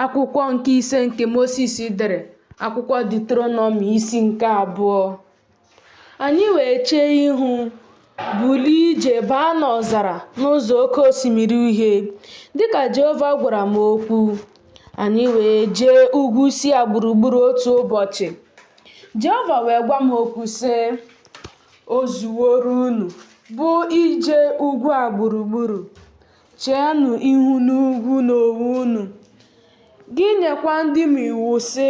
Akwụkwọ nke ise nke Mosis dere, akwụkwọ Deuteronomi isi nke abụọ. Anyị wee chee ihu bulie ije baa n'ọzara n'ụzọ oke osimiri uhie, dịka Jehova gwara m okwu. Anyị wee jee ugwu Sia gburugburu otu ụbọchị. Jehova wee gwa m okwu sị, O zuworo unu, bụ ije ugwu a gburugburu. Cheenụ ihu n'ugwu n'onwe unu, gị nyekwa ndị m iwu, sị,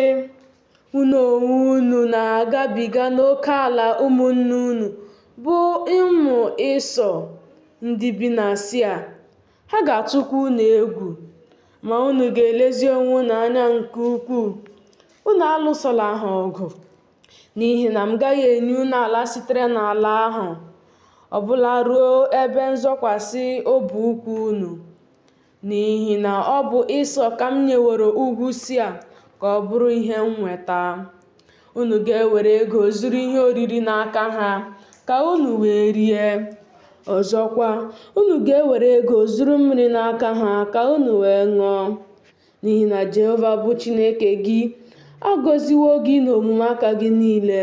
Unu onwe unu na-agabiga n'oke ala ụmụnne unu, bụ ụmụ Ịsọ, ndị bi na Sia. Ha ga-atụkwa unu egwu, ma unu ga-elezi onwe unu anya nke ukwuu. Unu alụsola ha ọgụ. N'ihi na m gaghị enye unu ala sitere n'ala ahụ ọ bụla ruo ebe nzọkwasị ọbụ ụkwụ unu, n'ihi na ọ bụ Ịsọ ka m nyeworo ugwu Sia ka ọ bụrụ ihe nnweta. Unu ga-ewere ego zụrụ ihe oriri n'aka ha ka unu wee rie. Ọzọkwa, unu ga-ewere ego zụrụ mmiri n'aka ha ka unu wee ṅụọ. N'ihi na Jehova bụ Chineke gị agọziwo gị n'omume aka gị niile,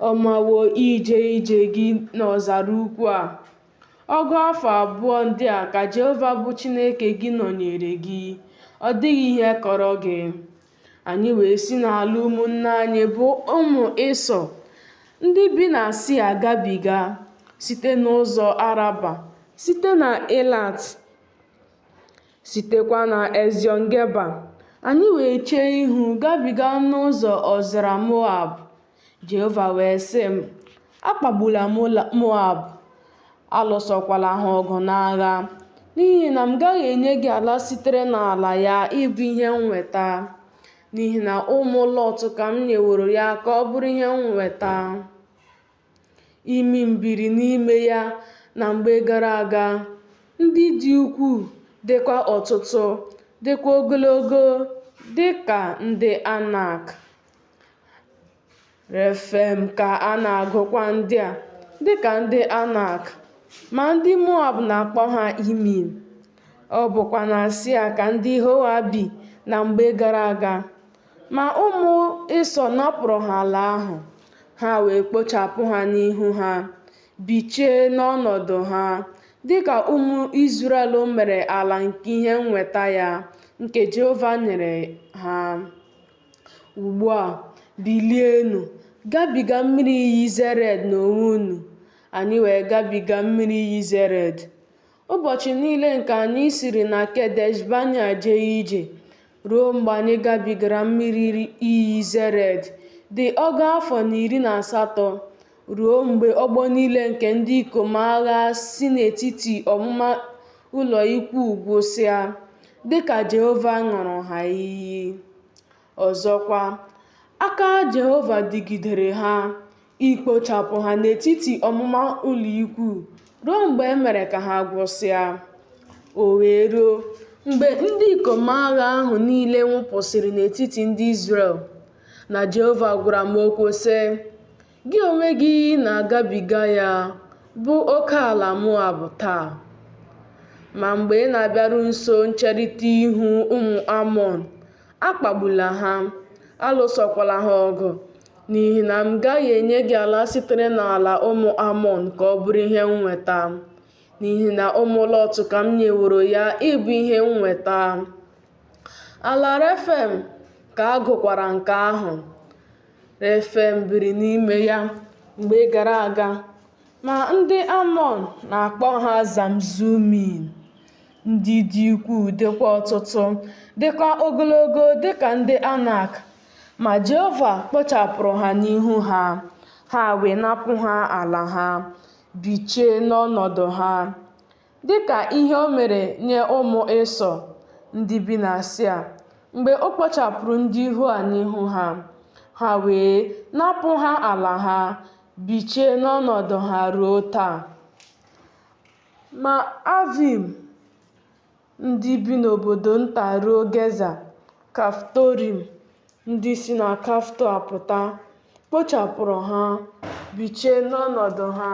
ọ mawo ije ije gị n'ọzara ukwu a. Ọgụ afọ abụọ ndị a ka Jehova bụ Chineke gị nọnyere gị, ọ dịghị ihe kọrọ gị. Anyị wee si n'ala ụmụnne anyị bụ ụmụ Ịsọ ndị bi na Sia gabiga site n'ụzọ Araba, site na Elat Sitekwa na Eziọn-geba, anyị wee chee ihu gabiga n'ụzọ ọzara Moab. Jehova wee sị m, Akpagbula Moab, alụsokwala ha ọgụ n'agha, n'ihi na m gaghị enye gị ala sitere n'ala ya ịbụ ihe nnweta, n'ihi na ụmụ Lọt ka m nyeworo ya ka ọ bụrụ ihe nnweta. Imim biri n'ime ya na mgbe gara aga, ndị dị ukwuu dịkwa ọtụtụ, dịkwa ogologo dị ka ndị Anak. Refem ka a na-agụkwa ndị a dị ka ndị Anak, ma ndị Moab na-akpọ ha Imim. Ọ bụkwa na Sia ka ndị Hoa bi na mgbe gara aga. Ma ụmụ Ịsọ napụrụ ha ala ahụ, ha wee kpochapụ ha n'ihu ha, bichie n'ọnọdụ ha, dịka ụmụ Izrel mere ala nke ihe nnweta ya, nke Jehova nyere ha. Ugbu a, bilienụ, gabiga mmiri iyi Zered n'onwe unu, anyị wee gabiga mmiri iyi Zered. Ụbọchị niile nke anyị siri na Kedesh Bania jee ije ruo mgbe anyị gabigara mmiri iyi Zered dị ọgụ afọ na iri na asatọ, ruo mgbe ọgbọ niile nke ndị ikom agha si n'etiti ọmụma ụlọ ikwu gwụsịa, dịka Jehova ṅụrụ ha iyi. Ọzọkwa, aka Jehova dịgidere ha, ikpochapụ ha n'etiti ọmụma ụlọ ikwu ruo mgbe e mere ka ha gwụsịa. O wee ruo, mgbe ndị ikom agha ahụ niile nwụpụsịrị n'etiti ndị Izrel, na Jehova gwara m okwu, sị, Gị onwe gị na-agabiga ya, bụ oke ala Moab taa. Ma mgbe ị na-abịaru nso ncherita ihu ụmụ Amọn, akpagbula ha, alụsokwala ha ọgụ, N'ihi na m gaghị enye gị ala sitere n'ala ụmụ Amọn ka ọ bụrụ ihe nnweta, n'ihi na ụmụ Lọt ka m nyeworo ya ịbụ ihe nnweta. Ala Refem ka a gụkwara nke ahụ. Refem biri n'ime ya mgbe gara aga, ma ndị Amọn na-akpọ ha Zamzumim. Ndị dị ukwuu dịkwa ọtụtụ, dịkwa ogologo dịka ndị Anak, Ma Jehova kpochapụrụ ha n'ihu ha, ha wee napụ ha ala ha, bichie n'ọnọdụ ha, dịka ihe o mere nye ụmụ Ịsọ ndị bi na Sia, mgbe o kpochapụrụ ndị Hoa n'ihu ha, ha wee napụ ha ala ha, bichie n'ọnọdụ ha ruo taa. Ma Avim ndị bi n'obodo nta ruo Geza, Kaftorim, ndị si na Kafto apụta, kpochapụrụ ha, bichie n'ọnọdụ ha.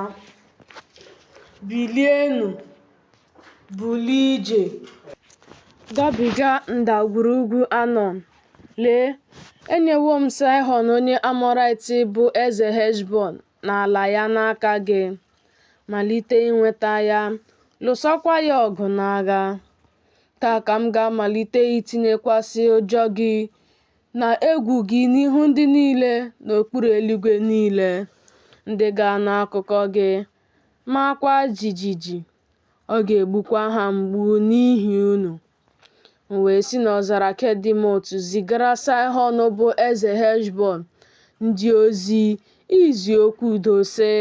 Bilienụ, bulie ije, gabiga ndagwurugwu Anọn. Lee, enyewo m Saịhọn onye Amọraịt bụ eze Heshbọn na ala ya n'aka gị, malite inweta ya, lụsokwa ya ọgụ n'agha. Taa ka m ga-amalite itinyekwasị ụjọ gị na egwu gị n'ihu ndị niile n'okpuru eluigwe niile, ndị ga-anụ akụkọ gị, maakwa jijiji. Ọ ga-egbukwa ha mgbu n'ihi unu. M wee si n'ọzara Kedemot zigara Saịhọn bụ eze Heshbọn ndị ozi izi okwu udo sị,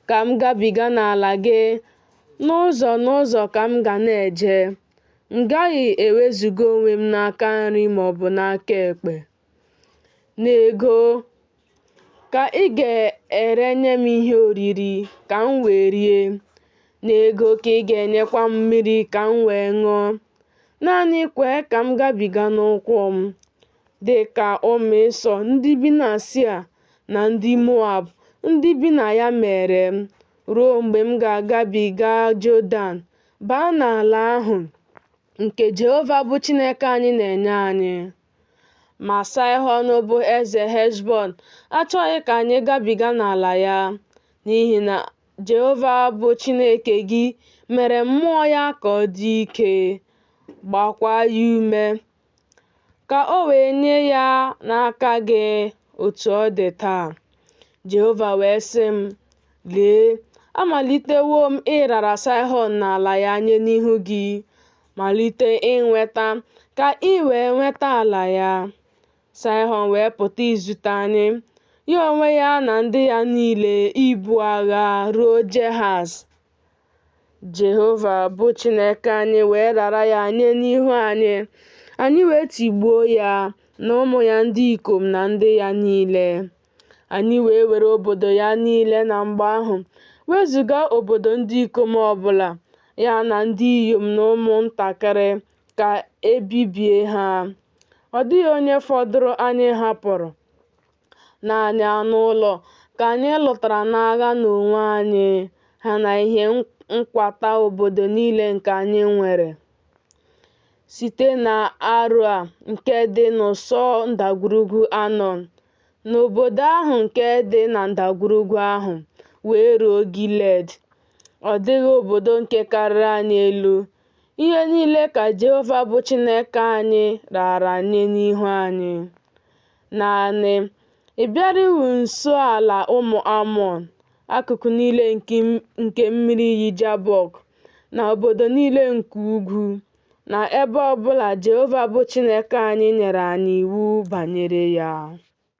Ka m gabiga n'ala gị, n'ụzọ n'ụzọ ka m ga na-eje. M gaghị ewezuga onwe m n'aka nri maọbụ n'aka ekpe. n'ego ka ị ga-erenye m ihe oriri ka m wee rie, n'ego ka ị ga-enyekwa m mmiri ka m wee ṅụọ. Naanị kwee ka m gabiga n'ụkwụ m, dị ka ụmụ Ịsọ ndị bi na Sia na ndị Moab ndị bi na ya mere m, ruo mgbe m ga-agabiga Jọdan baa n'ala ahụ nke Jehova bụ Chineke anyị na-enye anyị. Ma Sihọn bụ eze Heshbọn achọghị ka anyị gabiga n'ala ya, n'ihi na Jehova bụ Chineke gị mere mmụọ ya ka ọ dị ike, gbakwa ya ume, ka o wee nye ya n'aka gị otu ọ dị taa. Jehova wee sị m, Lee, amalitewo m ịrara Sihọn na ala ya nye n'ihu gị, malite inweta ka i wee nweta ala ya. Sihọn wee pụta izute anyị, ya onwe ya na ndị ya niile ibu agha ruo Jehaz. Jehova bụ Chineke anyị wee rara ya nye n'ihu anyị, anyị wee tigbuo ya na ụmụ ya ndị ikom na ndị ya niile. Anyị wee were obodo ya niile na mgbe ahụ, wezuga obodo ndị ikom ọbụla, ya na ndị inyom na ụmụntakịrị, ka e bibie ha. Ọ dịghị onye fọdụrụ anyị hapụrụ. Naanị anụ ụlọ ka anyị lụtara n'agha n'onwe anyị, ha na ihe nkwata obodo niile nke anyị nwere. Site na Aroa nke dị n'ụsọ ndagwurugwu Anọn na obodo ahụ nke dị na ndagwurugwu ahụ wee ruo Giled. Ọ dịghị obodo nke karịrị anyị elu. Ihe niile ka Jehova bụ Chineke anyị raara nye n'ihu anyị. Naanị, ị bịarughị nso ala ụmụ Amọn, akụkụ niile nke mmiri iyi Jabọk, na obodo niile nke ugwu, na ebe ọ bụla Jehova bụ Chineke anyị nyere anyị iwu banyere ya.